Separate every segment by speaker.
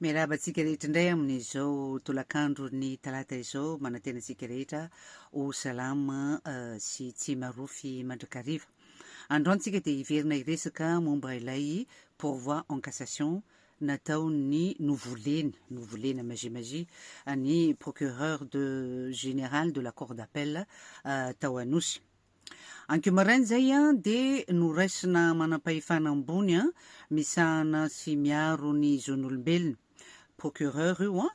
Speaker 1: Miarahaba antsika rehetra indray amin'izao tolakandro ny talata izao manantena antsika rehetra ho salama eh, sy tsy marofy mandrakariva androantsika dia hiverina hiresaka momba ilay pourvoi en cassation nataon'ny novoleny novolena magie magie ny procureur de général de la cour d'appel eh, tao anosy Ankeo maraina izay dia noraisina manampahefana ambony misahana sy miaro ny zon'olombelona, procureur io an,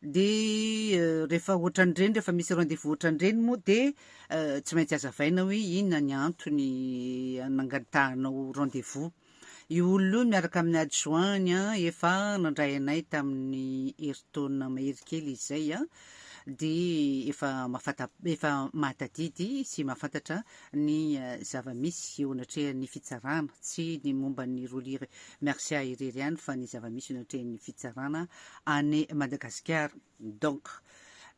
Speaker 1: dia eh, rehefa ohatran'ireny rehefa misy rendez-vous ohatran'ireny moa dia eh, tsy maintsy azavaina hoe inona ny antony eh, nangatahanao rendez-vous. Io olona io miaraka amin'ny adjoint-ny an, efa nandray anay tamin'ny herintaona mahery kely izay an, dia efa mahafanta, efa mahatadidy sy mahafantatra ny zava-misy eo anatrehan'ny fitsarana, tsy ny momba an'i Rolly Mercia irery ihany fa ny zava-misy eo anatrehan'ny fitsarana any Madagasikara. Donc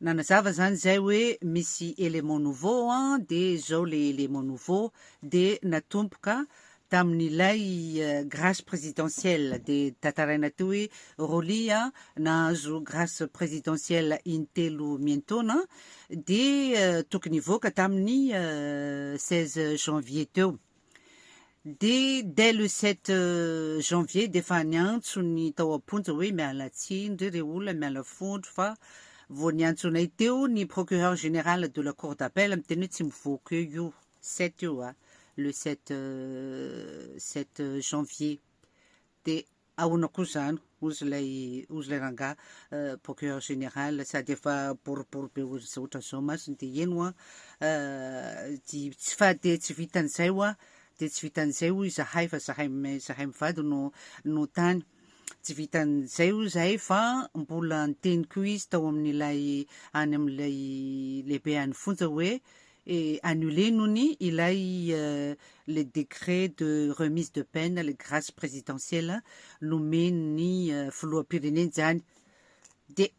Speaker 1: nanazava izany izay hoe misy élément nouveau an, dia izao ilay élément nouveau dia natomboka tamin'ilay grâce présidentielle, dia tantaraina teo hoe Rolly an nahazo grâce présidentielle in-telo miantaona dia tokony hivoaka tamin'ny seize janvier teo. Dia dès le sept janvier dia efa niantso ny tao am-ponja hoe miala tsiny re re olona, miala fondro fa vao niantso anay teo ny procureur général de la cour d'appel miteny hoe tsy mivoaka eo io sept io a, le sept sept janvier. Dia Ahona koa zany ozy ilay ozy ilay rangahy procureur général sady efa boribory be ohatran'izao masony dia eny hoa dia tsy fa dia tsy vitan'izay hoa dia tsy vitan'izay hoy izahay fa zahay zahay mivady no no tany tsy vitan'izay hoy izahay fa mbola niteny koa izy tao amin'ilay any amin'ilay lehibe any fonja hoe et annuler nony ilay le décret de remise de peine le grace présidentielle nomen'ny filoham-pirenena izany de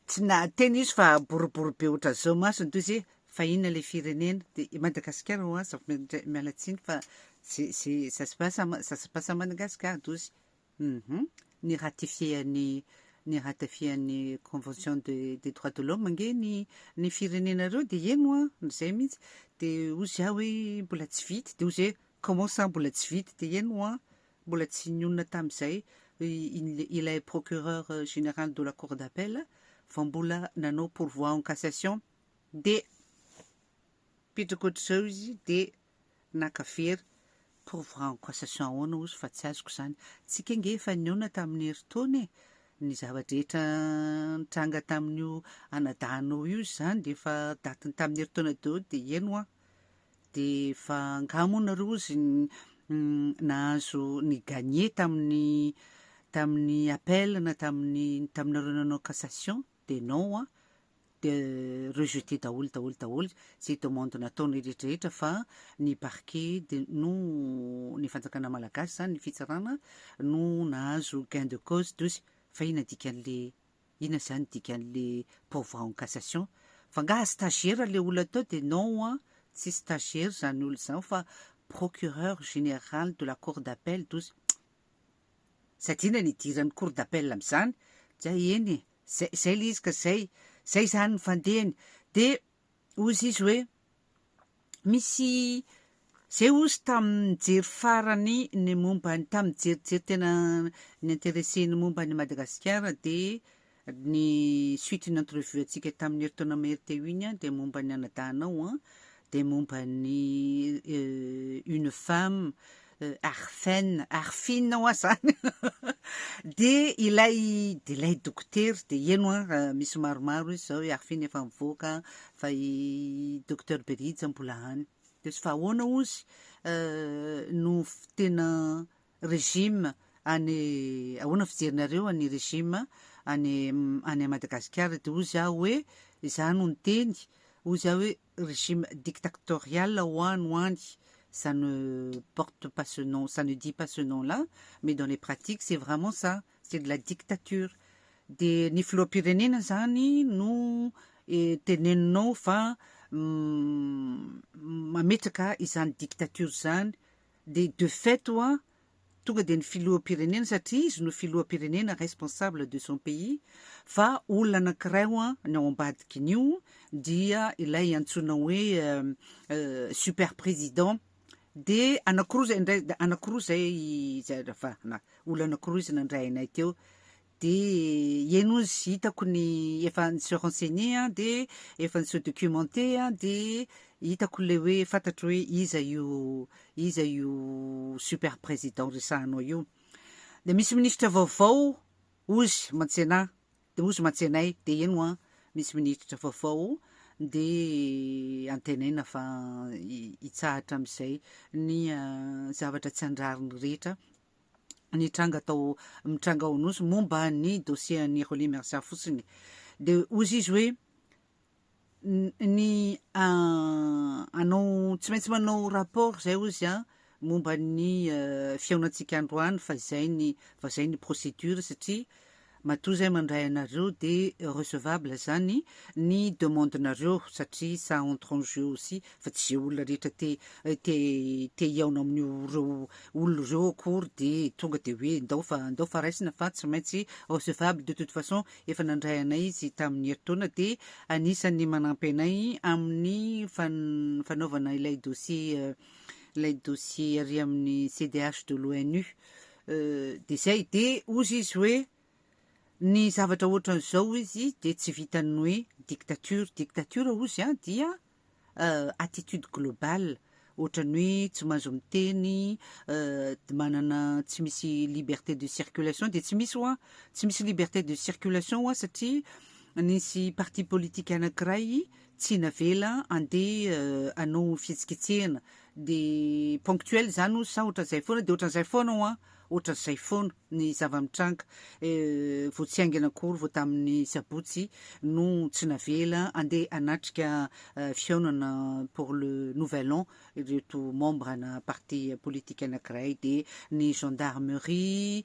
Speaker 1: tsy nahateny izy fa boribory be ohatran'izao masony toy izay fa inona ilay firenena de i Madagasikara ho'a zafy miala tsiny fa c'est c'est ça se passe à ça se passe à Madagascar tozy Humm ny ratifier ny ny ratifier ny convention de des droits de l'homme nge ny ny firenenareo de heno an ny zay mintsy de ozy ah oe mbola tsy vita de ozy oe comment ça mbola tsy vita de heno an mbola tsy nionona tamizay ilay procureur general de la cour d'appel vao mbola nanao pourvoi en cassation de miditra ohatr'izao izy de naka vera, preuve en cassation ahoana ozy fa tsy azoko izany, tsika ange efa nihaona tamin'ny herintaona e, ny zava-drehetra nitranga tamin'io anadahinao io izany dia efa datiny tamin'ny herintaona daholo dia heno an, dia fa angaha moa nareo ozy nahazo ni gagner tamin'ny tamin'ny appel na tamin'ny taminareo nanao cassation? dia non an, dia rejeter daholo daholo daholo izay demande nataony rehetra rehetra fa ny parquet dia no ny fanjakana malagasy izany ny fitsarana no nahazo gain de cause dozy fa inona dikan'le inona izany dikan'le pourvoi en cassation fa angaha stagiaire le olona teo dia non an, tsy stagiaire izany olona izany fa procureur général de la cour d'appel dozy. Tsy adino ny hidiran'ny cour d'appel amin'izany, dia eny e, zay zay le izy ka zay, zay zany ny fandehany, dia ozy izy hoe misy zay ozy tamin'ny nijery farany ny momba ny tamin'ny nijerijery tena ny interesse ny momba an'i Madagasikara dia Ny suite ny entrevue antsika tamin'ny herintaona mahery teo iny dia momba ny anadahinao an, dia momba ny une femme Arfen, Arfin hoa zany dia ilay dia ilay dokotera dia heno an misy maromaro izy zao i Arfin efa mivoaka fa i docteur Berija mbola any dia ozy fa ahoana ozy no tena Regime any ahoana fijerinareo an' ny regime any any Madagasikara dia hoy za hoe za no niteny hoy za hoe regime dictactorial ho an ho any ça ne porte pas ce nom ça ne dit pas ce nom là mais dans les pratiques c'est vraiment ça c'est de la dictature dia ny filoham-pirenena zany no teneninao fa mametraka izany dictature izany dia de fait hoa tonga dia ny filoham-pirenena satria izy no filoham-pirenena responsable de son pays fa olona anankiray hoa ny ao ambadikin'io dia ilay antsoina hoe super président dia anankiroa izay indray anankiroa izay olona anankiroa izy nandray anay teo dia eny ozy hitako ny efa nisy renseigner an, dia efa nisy documenter an, dia hitako ilay hoe fantatro hoe iza io iza io super président resahanao io, dia misy ministra vaovao ozy mantsena dia ozy mantsena ahy dia eny hoa misy minitra vaovao dia antenaina fa hitsahatra amin'izay ny zavatra tsy andrariny rehetra nitranga tao mitranga ao Anosy momba ny dossier an'i Rolly Mercia fotsiny. Dia hozy izy hoe ny anao tsy maintsy manao rapport izay hozy an momba ny fihaonantsika androany fa izay ny fa izay ny procédure satria Matoa izay mandray anareo de recevable zany ny demande nareo satria ça entre en jeu aussi fa tsy izay olona rehetra te te te hihaona amin'io reo olona ireo akory de tonga de hoe ndao fa ndao fa raisina fa tsy maintsy recevable de toute façon efa nandray anay izy tamin'ny herintaona de anisan'ny manampy anay amin'ny fan fanaovana ilay dossier ilay dossier ary amin'ny CDH de l'ONU Dia izay, dia hozy izy hoe ny zavatra ohatran'izao hoy izy dia tsy vitan'ny hoe dictature, dictature hoy izy an dia attitude globale ohatran'ny hoe tsy mahazo miteny, manana tsy misy liberté de circulation dia tsy misy hoa, tsy misy liberté de circulation hoa satria nisy parti politique anankiray tsy navela andeha hanao fihetsiketsehana de ponctuel zany ozy sa ohatran'izay foana de ohatran'izay foana hoa ohatran'izay foana ny zava-mitranga vao tsy haingana akory vao tamin'ny sabotsy no tsy navela andeha hanatrika fihaonana pour le nouvel an ireto membre ana parti politique anankiray de ny gendarmerie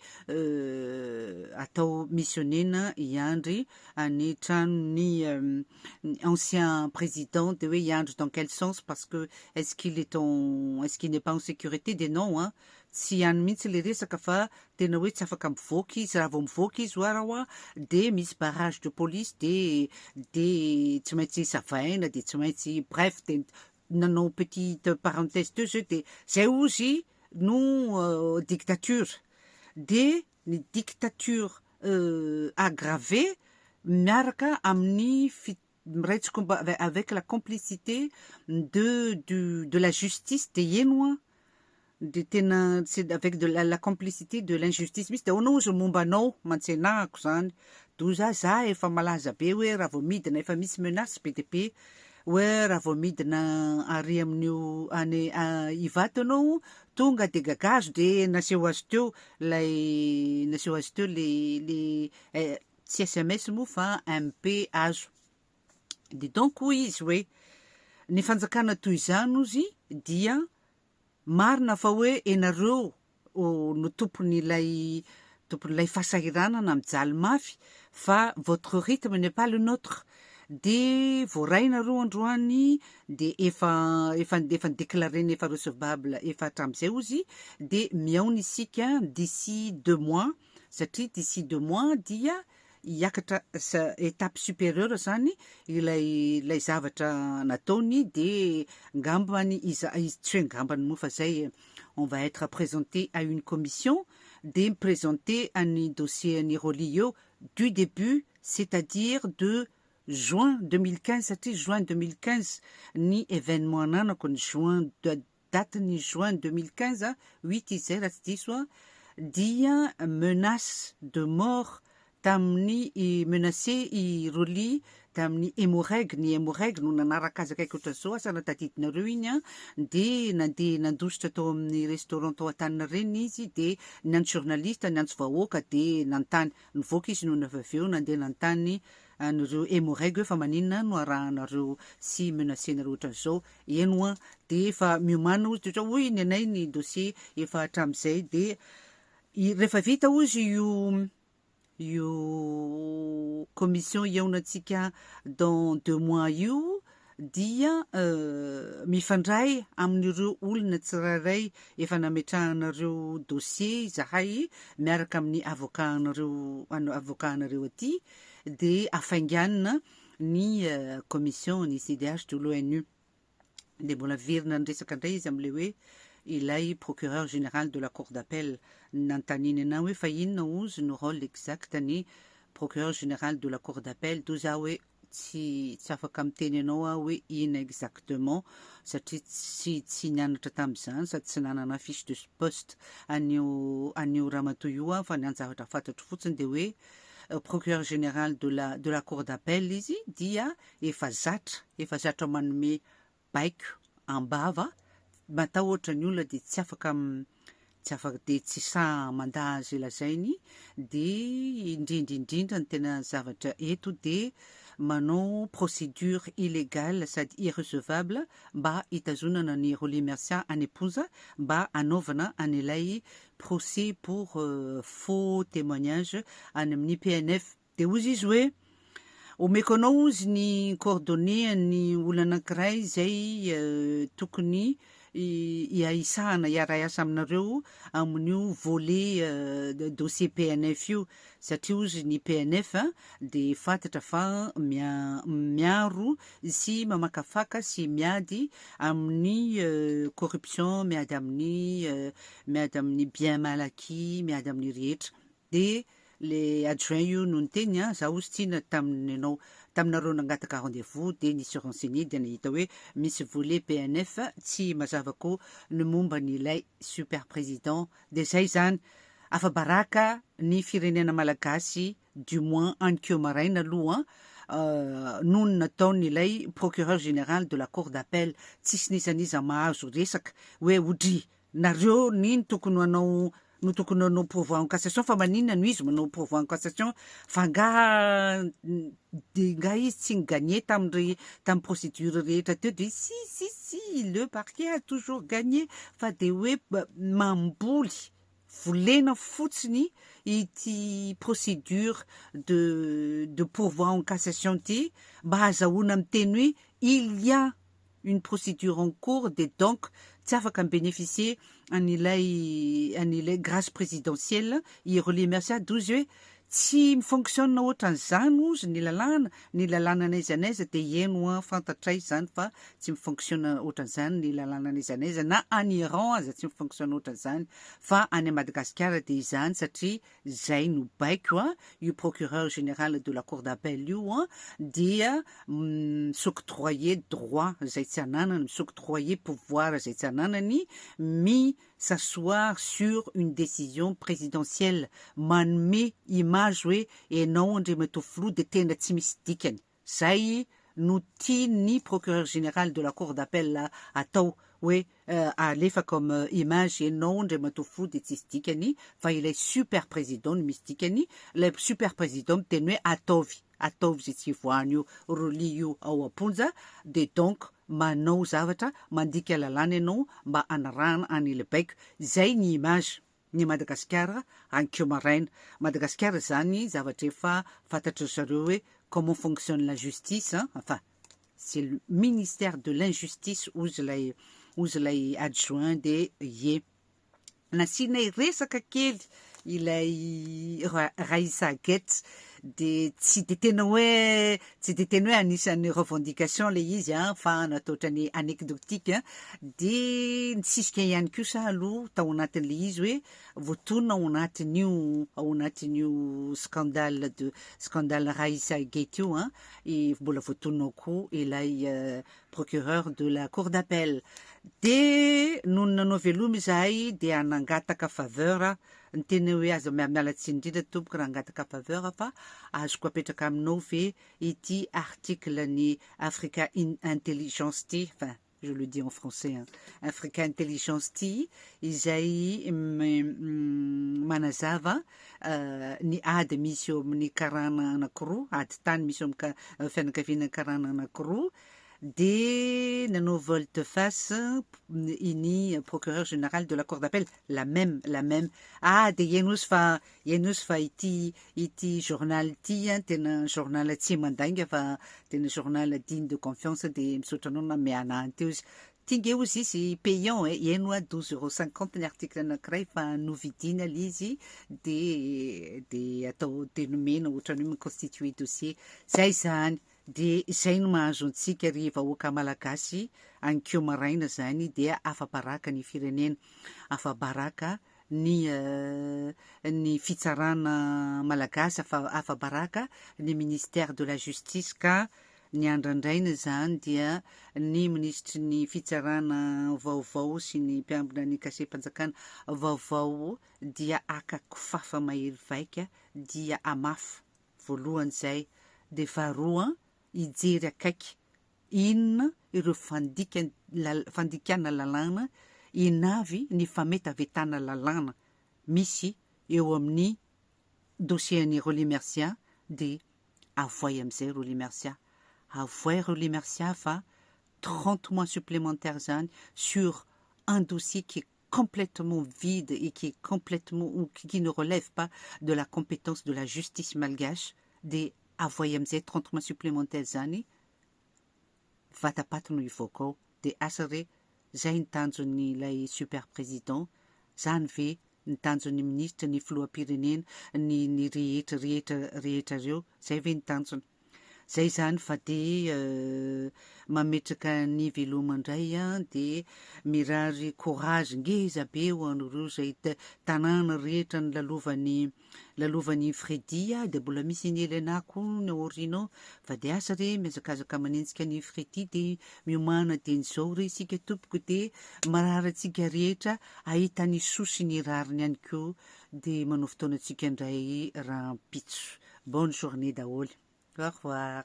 Speaker 1: atao missionena hiandry any tranon'ny ny ancien président de hoe hiandry dans quel sens parce que est ce qu'il est en est ce qu'il n'est pas en sécurité dia non an, tsy ihany mihitsy ilay resaka fa tena hoe tsy afaka mivoaka izy, raha vao mivoaka izy ho'a raha ho'a dia misy barrage de police dia dia tsy maintsy savaina dia tsy maintsy bref dia nanao petite parenthèse teo zay dia zay ozy no dictature dia ny dictature aggravée miaraka amin'ny miray tsikomba avec la complicité de du de la justice dia heno an! dia tena c'est avec de la complicité de l'injustice mihintsy dia ahoana ozy ny momba anao? mantsenahako izany, doza za efa malaza be hoe raha vao midina efa misy menace be dia be Oe raha vao midina ary amin'io any Ivato ianao tonga de gagazo de naseho azy teo lay naseho azy teo le le tsy sms moa fa MP azo de donc hoy izy hoe ny fanjakana toy izany ozy dia Marina fa hoe enareo no tompon ilay tompon ilay fasahiranana mijaly mafy fa votre rythme n'est pas le notre de voaray nareo androany de efa efa efa declarena efa recevable efa hatramizay ozy de mihaona isika d'ici deux mois satria d'ici deux mois dia hiakatra étape supérieure zany ilay ilay zavatra nataony de ngambany iza tsy hoe ngambany moa fa zay on va être présenté à une commission de mi-présenter an'ny dossier an'i Rolly eo du début c'est-à-dire de juin 2015 satria juin 2015 ny événement ananako ny juin date ny juin deux mille quinze huit izay raha tsy diso aho, dia menace de mort tamin'ny menace i Rolly tamin'ny Emmo-Reg, ny Emmo-Reg no nanaraka azy akaiky ohatran'izao, asa raha tadidinareo iny an, dia nandeha nandositra tao amin'ny restaurant tao Antaninarenina izy dia niantso journaliste, niantso vahoaka dia nanontany, nivoaka izy nony avy avy eo nandeha nanontany an'ireo emoreg hoe fa maninona no arahanareo sy menacenareo ohatran'izao, eny hoa dia efa miomana hozy dia ohatran'ny hoe ny anay ny dossier efa hatramin'izay dia rehefa vita hozy io io commission hihaonantsika dans deux mois io dia mifandray amin'ireo olona tsirairay efa nametrahanareo dossier izahay miaraka amin'ny avocat anareo avocat anareo aty dia hafainganina ny commission ny CDH de l'ONU dia mbola verina ny resaka indray izy amin'ilay hoe ilay procureur général de la cour d'appel nanontaniany anao hoe fa inona ozy no rôle exact ny procureur général de la cour d'appel toa za hoe tsy tsy afaka miteny anao aho hoe inona exactement satria tsy tsy nianatra tamin'izany sady tsy nanana fiche de poste an'io an'io ramatoa io aho fa ny anjavatra fantatro fotsiny dia hoe Procureur général de la de la cour d'appel izy dia efa zatra efa zatra manome baiko am-bava matahotra ny olona dia tsy afaka tsy afaka dia tsy sahy mandà izay lazainy dia indrindra indrindra ny tena zavatra eto dia manao procédure illégale sady irrecevable mba hitazonana ny Roly Mercia any am-ponja mba hanaovana an'ilay procès pour faux témoignage any amin'ny PNF. Dia hoy izy hoe, Omeko anao hozy ny coordonnées an'ny olona anankiray izay tokony hiahisahana, hiara-hiasa aminareo amin'io volet dossier PNF io. Satria ozy ny PNF dia fantatra fa miaro sy mamakafaka sy miady amin'ny corruption, miady amin'ny miady amin'ny bien mal acquis, miady amin'ny rehetra. Dia le adjoint io no niteny an, za ozy tsy na tamin'ny anao taminareo nangataka rendez-vous dia nisy renseigner dia nahita hoe misy volet PNF tsy mazava ko ny momba an'ilay super président Dia zay zany, afa-baraka ny firenena malagasy du moins ankeo maraina aloha noho ny nataon' ilay procureur général de la cour d'appel, tsisy n'iza n'iza mahazo resaka hoe odry nareo ny no tokony hanao no tokony hanao pourvoi en cassation fa maninona no izy manao pourvoi en cassation fa angaha Dia ingahy izy tsy ni-gagner tamin'irey tamin'ny procédure rehetra teo dia izy si si si le parquet a toujours gagner fa dia hoe mamboly volena fotsiny ity procédure de de pourvoi en cassation ity mba hazahoana miteny hoe il y a une procédure en cours dia donc tsy afaka mi-bénéficier an'ilay an'ilay grâce présidentielle i Rolly Mercia douze hoe tsy mi-fonctionne ohatran'izany hozy ny lalàna, ny lalàna n'aiza n'aiza dia heno an fantatray izany fa tsy mi-fonctionne ohatran'izany ny lalàna n'aiza n'aiza na any Iran aza tsy mi-fonctionne ohatran'izany fa any Madagasikara dia izany satria izay no baiko an, io procureur général de la cour d'appel io an, dia mi-s'octroyer droit izay tsy ananany, mi-s'octroyer pouvoir izay tsy ananany, mi s'asseoir sur une décision présidentielle, manome image hoe ianao Andriamatoa Filoha dia tena tsy misy dikany. Izay no tian'ny Procureur Général de la Cour d'Appel atao, hoe alefa comme image ianao Andriamatoa Fou dia tsisy dikany fa ilay Super Président no misy dikany, ilay Super Président miteny hoe ataovy, ataovy izay tsy hivoahany io Roly io ao am-ponja, dia donc manao zavatra mandika lalàna ianao mba hanarahana an'I Lebaiko, izay ny image. ny Madagasikara hankeo maraina. Madagasikara izany zavatra efa fantatry ry zareo hoe comment fonctionne la justice an, enfin c'est le ministère de l'injustice hozy ilay hozy ilay adjoint de ie. Nasianay resaka kely ilay Ra- Raissa Gets dia tsy dia tena hoe tsy dia tena hoe anisan'ny revendication ilay izy an, fa nataotra ny anecdotique, dia nisisika ihany koa sa aloha tao anatin'ilay izy hoe voatonona ao anatin'io ao anatin'io scandale de scandale Raissa et Gate io an, i mbola voatonona ao koa ilay procureur de la cour d'appel, dia nony nanao veloma izahay dia nangataka faveur aho Ny tena hoe aza miala tsiny indrindra tompoko raha hangataka faveur fa azoko apetraka aminao ve ity article ny africa in intelligence ty enfin je le dis en français an africa intelligence ty izay manazava ny ady misy eo amin'ny karana anakiroa ady tany misy eo amin'ny fianakaviana karana anakiroa dia nanao volte face i ny procureur général de la cour d'appel la même la même ah dia iainosy fa iainosy fa ity ity journal ity an tena journal tsy mandainga fa tena journal digne de confiance dia misaotra anao na miana any teo izy tinge ozy izy payant e ihaino a 12 euros 50 ny article anankiray fa novidiana ilay izy dia dia atao dia nomena ohatran'ny hoe mi-constituer dossier zay izany Dia izay no mahazo antsika ry vahoaka Malagasy any ko maraina zany dia afabaraka ny firenena, afabaraka ny ny fitsarana Malagasy, afa afabaraka ny ministère de la justice ka ny andrandraina zany dia ny minisitry ny fitsarana vaovao sy ny mpiambina ny kasehi-panjakana vaovao dia haka kofafa mahery vaika dia hamafa Voalohany izay dia varoa an hijery akaiky inona ireo fandikana fandikana lalàna inavy ny fametavetana lalàna misy eo amin'ny dossier an'i Rolly Mercia dia avoay amin'izay Rolly Mercia. Avoay Rolly Mercia fa trente mois supplémentaires izany sur un dossier qui est complètement vide et qui est complètement ou qui ne relève pas de la compétence de la justice malgache dia avoay amin'izay trente mois supplémentaires izany vatapaty no hivoaka ao dia asa re zay ny tanjon'ny ilay super président zany ve ny tanjon'ny ministra ny filoham-pirenena ny ny rehetra rehetra rehetra reo zay ve ny tanjona Zay izany fa dia mametraka ny veloma ndray dia mirary courage ngeza be ho an'ireo zay tanàna rehetra nilalovan'i lalovan'i Freddy a, dia mbola misy an'i Elena koa ny aoriana ao fa dia asa re mihazakazaka manenjika an'i Freddy dia miomana dieny zao re isika tompoko dia marary antsika rehetra ahita ny soa sy ny rariny ihany koa Dia manao fotoana antsika indray rahampitso. Bonne journée daholo. Au revoir.